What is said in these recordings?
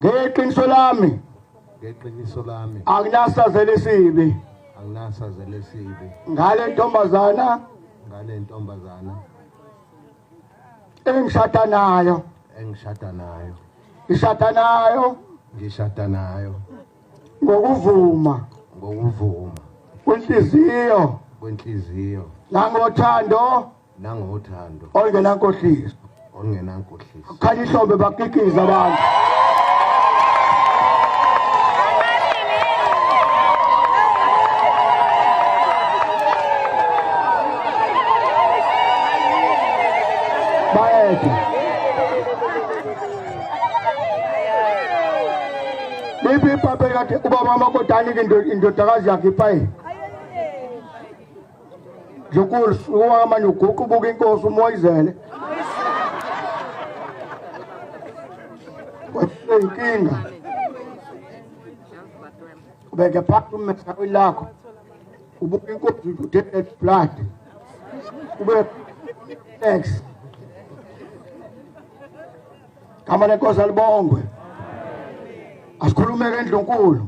ngeqiniso lami ngeqiniso lami anginasazela esibi anginasazela esibi ngale ntombazana ngale ntombazana engishada nayo engishada nayo ngishada nayo ngishada nayo ngokuvuma ngokuvuma kwenhliziyo kwenhliziyo nangothando nangothando ongenankohliso ongenankohliso khanya ihlombe bakikiza abantu bayede lipi ipape kati ubaba wamakoti anike indodakazi yakhe ipaye Njukusi uwama nyuguqu buka inkosi umoyizele. Wasenkinga. Ubeke phansi umesa lakho. Ubuka inkosi udele blood. Ube thanks. Kama lenkosi alibongwe. Asikhulumeke endlunkulu.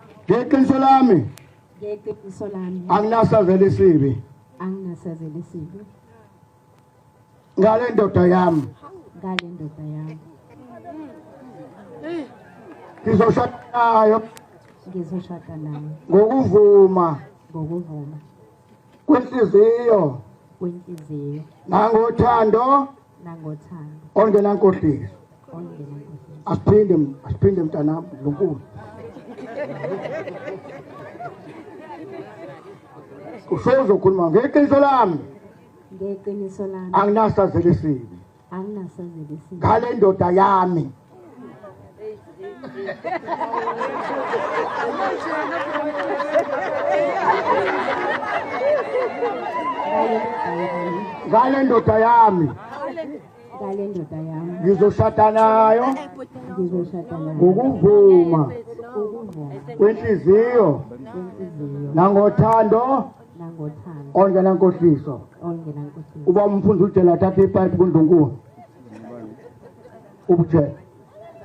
ngeqiniso lami ngeqiniso lami anginasazela isibi anginasazela isibi ngale ndoda yami ngale ndoda yami ngizoshada nayo ngizoshada nayo ngokuvuma ngokuvuma kwenhliziyo kwenhliziyo nangothando nangothando ongenankohliso ongenankohliso asiphinde asiphinde mntanami lonkulu usezokhuluma ngeqiniso lami ngeqiniso lami anginasazela esibi ngale ndoda yami ngale ndoda yami ngale ndoda yami ngizoshada nayo ngizoshada nayo ngokuvuma kwenhliziyo nangothando nangothando ongena nkohliso ongena nkohliso uba umfundi ujela athatha ipipe kundlunkulu ubujela